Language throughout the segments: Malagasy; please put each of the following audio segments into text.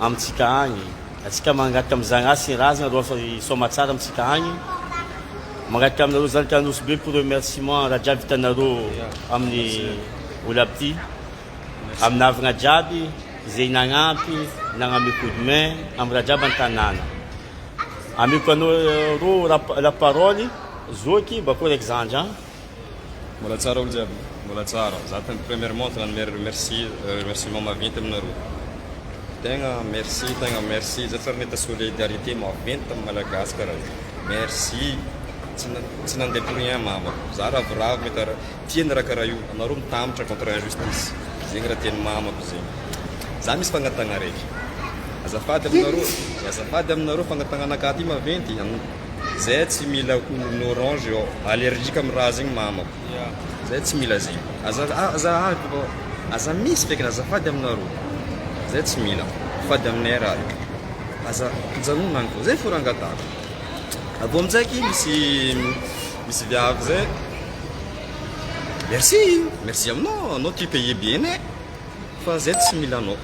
amintsika agny atsika mangataka am zagnahary sy razagna ro asa i soamatsara amintsika agny mangataka aminareo zanaka anosy be pour remerciement raha jiaby vitanareo aminy olo aby ty aminavagna jiaby ze nagnampy nagname coup de main amy raha jiaby antanagna ameko anao ro la parole zoky bakô raiky zandry an. Mbola tsara olo jiaby? Mbola tsara. Za tena premièrement tena anome remerci remerciement maventy aminareo. Tegna merci tegna merci zay fa nita solidarité maventy tam malagasy kara zay. Merci tsy na tsy nandeha pour rien mama. Za ravoravo mety ra tia ny ra kara io anareo mitambotra contre injustice zegny ra tiany mamako zegny. Za misy fagnatagna raiky. Azafady aminareo azafady aminareo fagnatagnanakahy ty maventy am. Zay tsy mila ho orange eo allergique am raha zegny mamako zay tsy mila zegny aza aza aza misy feky azafady aminareo zay tsy mila fady aminay raha io aza ajanogno agny fô zay fô raha angatahako avy eo aminjaiky misy misy viavy zay merci merci aminao anao tu paye bien eh fa zay tsy mila anao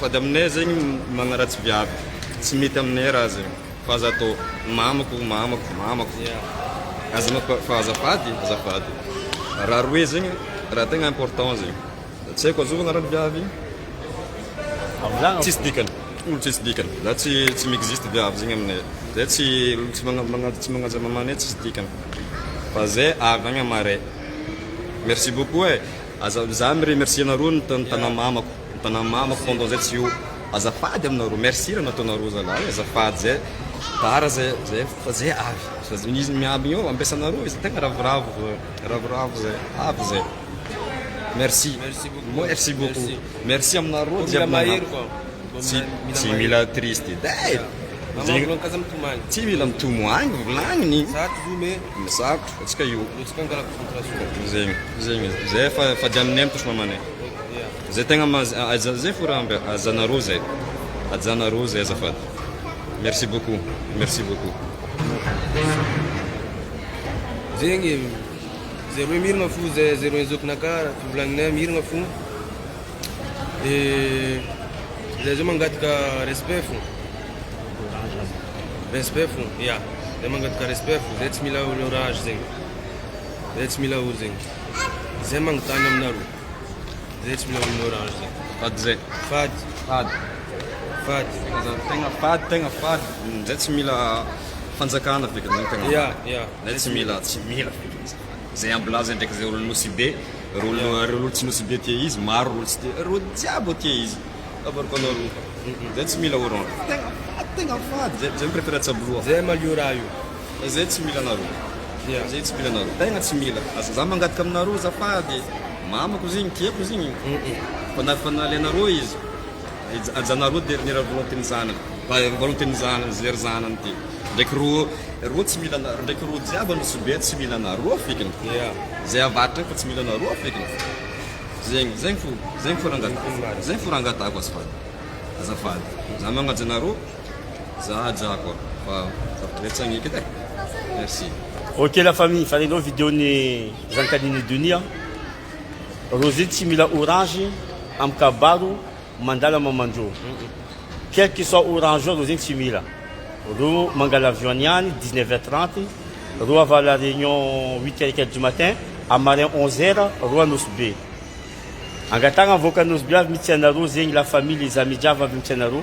Sady aminay zegny magnaratsy viavy tsy mety aminay raha zegny fa aza atao mamako mamako mamako aza mako fa azafady azafady raha roe zegny raha tegna important zegny tsy haiko azova agnaran'ny viavy tsisy dikany olo tsisy dikany za tsy tsy mi-existe viavy zegny aminay zay tsy olo tsy magna- magna- tsy magnaja mamanay tsisy dikany fa zay avy agny amaray merci beaucoup e aza za mi-remercier anareo ny tan- tanà mamako Mitana mamako pendant zay tsy ho azafady aminareo merci raha nataonareo zalahy azafady zay tara zay zay fa zay avy fa zay izy miambigny eo ampiasanareo izy tegna ravoravo zay ravoravo zay avy zay merci merci beaucoup merci aminareo jiaby nagnampy tsy tsy mila triste day zegny tsy mila mitomoagny volagniny zako atsika io zegny zegny zay fa fady aminay mitosy mamanay Zay tegna maha aja zay fo raha mba ajanareo zay ajanareo zay azafady merci beaucoup merci beaucoup. Zegny e, zareo miragna fo zay zareo ny zokinaka raha fivolagnanay miragna fo de zay zao mangataka respect fo respect fo ya zay mangataka respect fo zay tsy mila olo rage zegny zay tsy mila olo zegny. Zay magnotany aminareo. Zay tsy mila amin'ny orange zay. Fady zay. Fady. Fady. Fady. Tegna za tegna fady, tegna fady. Mm, zay tsy mila fanjakana feky zay tegna. Ya, ya. Zay tsy mila, tsy mila feky izy. Zay ambilaza ndraiky zay olo nosy be, reo olo ya. reo olo tsy nosy be tia izy, maro reo olo tsy tia. Reo jiaby tia izy. Avariko anareo. Zay tsy mila orange. Tegna fady, tegna fady. Zay, zay mi-prefere tsabo loha. Zay malio raha io. Zay tsy mila anareo. Yeah. Zay tsy mila anareo. Tegna tsy mila. Aza za mangataka aminareo azafady. Mamako izy igny, tiako izy igny. Fa na fa nalainareo izy, aj- ajanareo dernier volonté-n'ny zanany. Fa volonté-n'ny zanany, ze ry zanany ty. Ndraiky rô, rô tsy mila anareo. Ndraiky rô jiaby an'i Soubert tsy mila anareo fekiny. Yeah. Zay avaratra agny fa tsy mila anareo fekiny. Zegny, zegny fo, zegny fo rangatahako. Zegny fo rangatahako azafady. Azafady. Za magnaja anareo. Za aja koa fa betsaka ny ekita e. Merci. Ok la famille, falenao vidéo ny zankanin'i Duny an. Rosie tsy mila orange amin'ny kabaro mandala mamanjo. Quel que soit orange eo Rosie tsy mila. Ro mangala avion any ihany 19 heures 30, ro avant la réunion 8 heures et quelques du matin, à marin 11 heures ro Anosibe. Angatahagna avoaka Anosibe avy mitsy anareo zegny la famille les amis jiaby avy mitsy anareo.